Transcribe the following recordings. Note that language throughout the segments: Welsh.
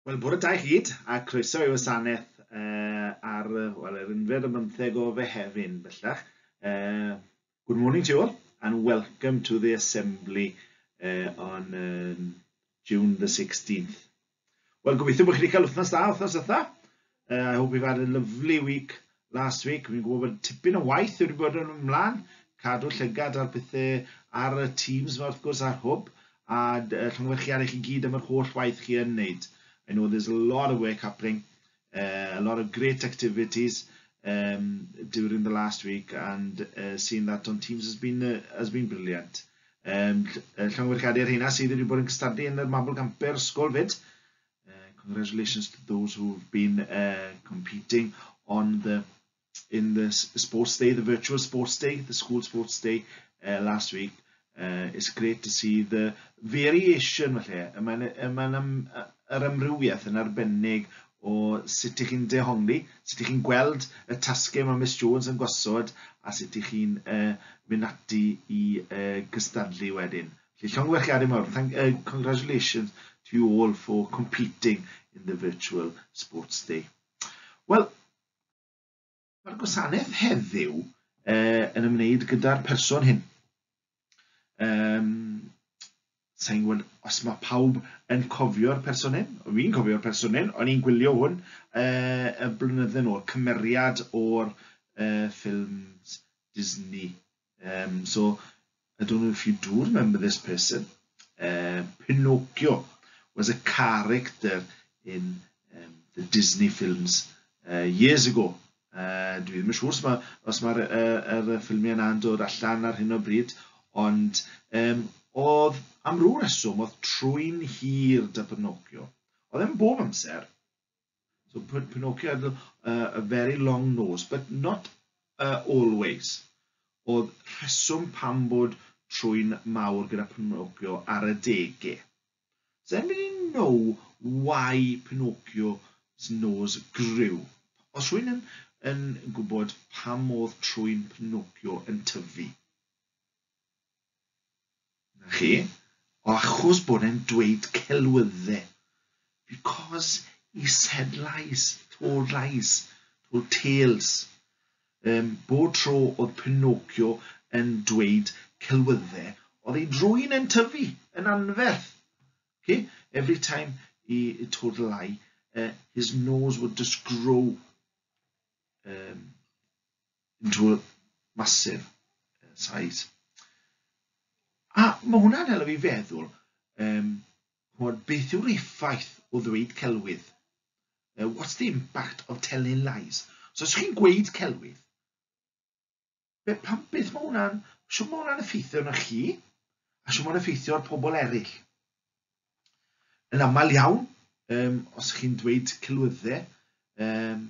Wel, bore da i gyd, a croeso i wasanaeth uh, ar well, yr unfed y bymtheg o Fehefin, bellach. Uh, good morning to you all, and welcome to the Assembly uh, on um, June the 16th. Wel, gobeithio bod chi wedi cael wythnos da, wythnos ytha. Uh, I hope you've had a lovely week last week. Fi'n gwybod bod tipyn o waith wedi bod yn ymlaen, cadw llygad ar pethau ar y teams yma wrth gwrs a'r hwb, a llongyfarchiad i chi gyd am yr holl waith chi yn wneud. I know there's a lot of work happening, uh, a lot of great activities um, during the last week, and uh, seeing that on teams has been, uh, has been brilliant. Um, llongyfarchiad i'r heina sydd wedi bod yn cystadlu yn y Mabel Camper Ysgol fyd, Uh, congratulations to those who've been uh, competing on the in the sports day, the virtual sports day, the school sports day uh, last week. Uh, it's great to see the variation falle. Mae'n ma yr amrywiaeth yn arbennig o sut ych chi'n dehongli, sut ych chi'n gweld y tasgau mae Miss Jones yn gosod a sut ych chi'n uh, mynd ati i uh, gystadlu wedyn. Felly llongyfarchiadau mawr. Thank, uh, congratulations to you all for competing in the virtual sports day. Wel, mae'r gwasanaeth heddiw uh, yn ymwneud gyda'r person hyn. Um, Sa'n gwybod os mae pawb yn cofio'r person hyn. Fi'n cofio'r person hyn, o'n i'n gwylio hwn uh, y blynydde nhw, cymeriad o'r uh, ffilms Disney Um, so, I don't know if you do remember this person. Uh, Pinocchio was a character in um, the Disney films uh, years ago. Uh, dwi ddim yn siŵr os mae'r ma, os ma, uh, er ffilmiau yna'n dod allan ar hyn o bryd, ond um, oedd am rhyw reswm oedd trwy'n hir da Pinocchio. Oedd e'n bob amser, So Pinocchio had uh, a very long nose, but not uh, always. Oedd rheswm pam bod trwy'n mawr gyda Pinocchio ar y dege. Does anybody know why Pinocchio's nose grew? Os rwy'n yn, yn gwybod pam oedd trwy'n Pinocchio yn tyfu? Na chi, o achos bod e'n dweud celwydde. Because he said lies, told lies, told tales. Um, bod tro oedd Pinocchio yn dweud celwydde, oedd ei drwy'n yn tyfu, yn anferth. Okay? Every time he told a lie, uh, his nose would just grow. Um, into a massive uh, size. A mae hwnna'n helpu fi feddwl, um, chwod, beth yw'r effaith o ddweud celwydd? Uh, what's the impact of telling lies? So os chi'n gweud celwydd, be, pam, beth mae hwnna'n, siw mae hwnna'n effeithio na chi, a siw mae'n effeithio ar pobl eraill. Yn aml iawn, um, os chi'n dweud celwyddau, um,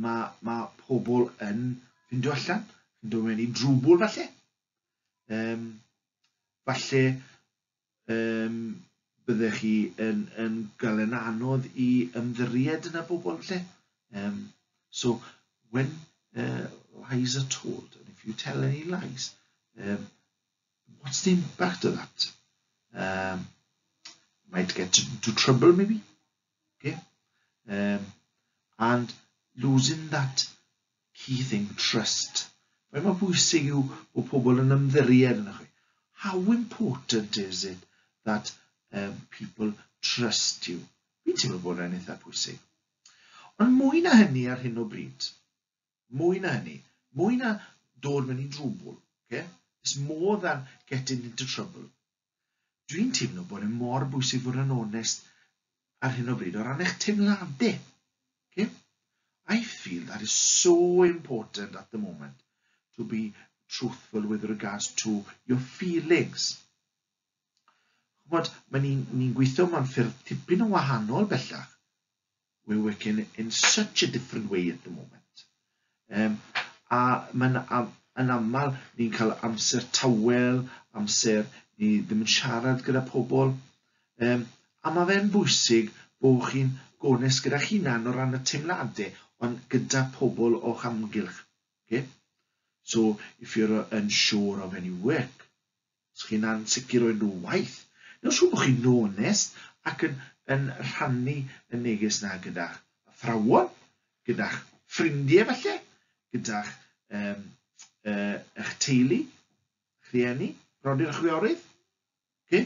mae, mae pobl yn ffindio allan, yn dod mewn i drwbl falle. Um, falle um, byddech chi yn, yn gael yn anodd i ymddiried yn y bobl falle. Um, so, when uh, lies are told, and if you tell any lies, um, what's the impact of that? Um, might get into trouble maybe. Okay? Um, and losing that key thing, trust. Faint mae bwysig yw bod pobl yn ymddiried yn chi. How important is it that um, people trust you? Fi'n teimlo bod e'n eitha pwysig. Ond mwy na hynny ar hyn o bryd, Mwy na hynny. Mwy na dod mewn i drwbl. Okay? It's more than getting into trouble. Dwi'n teimlo bod e mor bwysig fod yn onest ar hyn o bryd o ran eich teimladau. Okay? I feel that is so important at the moment to be truthful with regards to your feelings. Chymod, mae ni'n ni, gweithio mewn ffyrdd tipyn o wahanol bellach. we're working in such a different way at the moment. Um, a mae'n am, yn aml ni'n cael amser tawel, amser ni ddim yn siarad gyda pobl. Um, a mae fe'n bwysig bod chi'n gones gyda chi'n o ran y teimladau, ond gyda pobl o'ch amgylch. Okay? So, if you're unsure of any work, Os chi'n ansicr o'u nhw waith, neu os rhywun bo chi'n onest ac yn yn rhannu y neges 'na gyda'ch athrawon, gyda'ch ffrindie falle, gyda'ch um, uh, eich teulu, rhieni, brodyr a chwiorydd. Okay?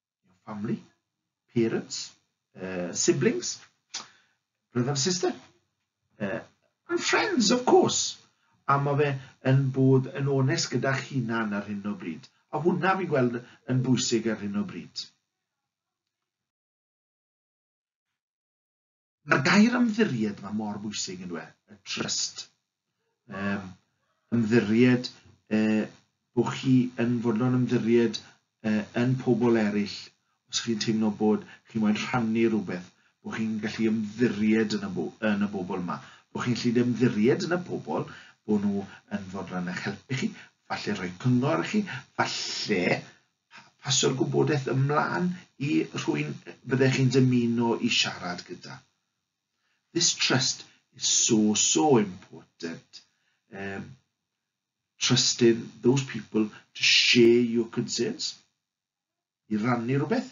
your family, parents, uh, siblings, brother and sister, uh, and friends, of course. A mae fe yn bod yn onest gyda'ch hunan ar hyn o bryd. A hwnna fi'n gweld yn bwysig ar hyn o bryd. Mae'r gair ymddiried yma mor bwysig yn dweud, y trust. Um, ymddiried, uh, bod chi yn fodlon ymddiried uh, yn pobl eraill, os chi'n teimlo bod chi'n moyn rhannu rhywbeth, bod chi'n gallu ymddiried yn y, bo yn y bobl yma, bod chi'n gallu ymddiried yn y pobl, bod nhw yn fodlon eich helpu chi, falle rhoi cyngor i chi, falle Pa, pasio'r gwybodaeth ymlaen i rhywun fyddech chi'n dymuno i siarad gyda. This trust is so, so important. Um, trusting those people to share your concerns. I rannu rhywbeth.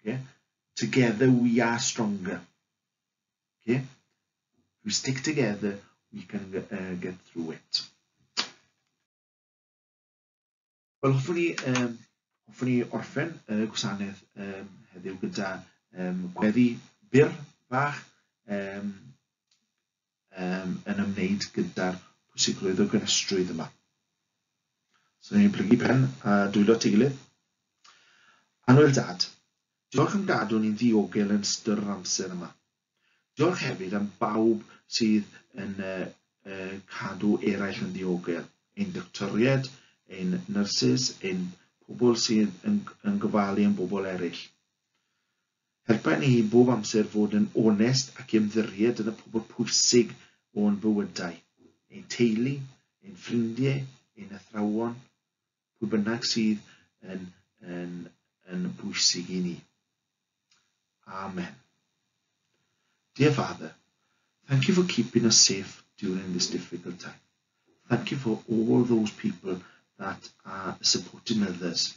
Okay? Together we are stronger. Okay? If we stick together, we can uh, get through it. Wel, hoffwn ni, um, hoffwn ni orffen y uh, gwasanaeth um, heddiw gyda um, gweddi byr bach um, um, yn ymwneud gyda'r pwysigrwydd o gynestrwydd yma. So, ni'n plygu pen a dwylo at ei gilydd. Anwyl Dad, diolch am gadw ni'n ddiogel yn ystod yr amser yma. Diolch hefyd am bawb sydd yn uh, uh, cadw eraill yn ddiogel, ein doctoried, ein nyrsys, ein pobl sydd yn, yn gofalu am bobl eraill. Helpa ni i bob amser fod yn onest ac ymddiried yn y pobl pwysig o'n bywydau, ein teulu, ein ffrindiau, ein athrawon, pwy bynnag sydd yn, yn, yn bwysig i ni. Amen. Dear Father, thank you for keeping us safe during this difficult time. Thank you for all those people that are supporting others.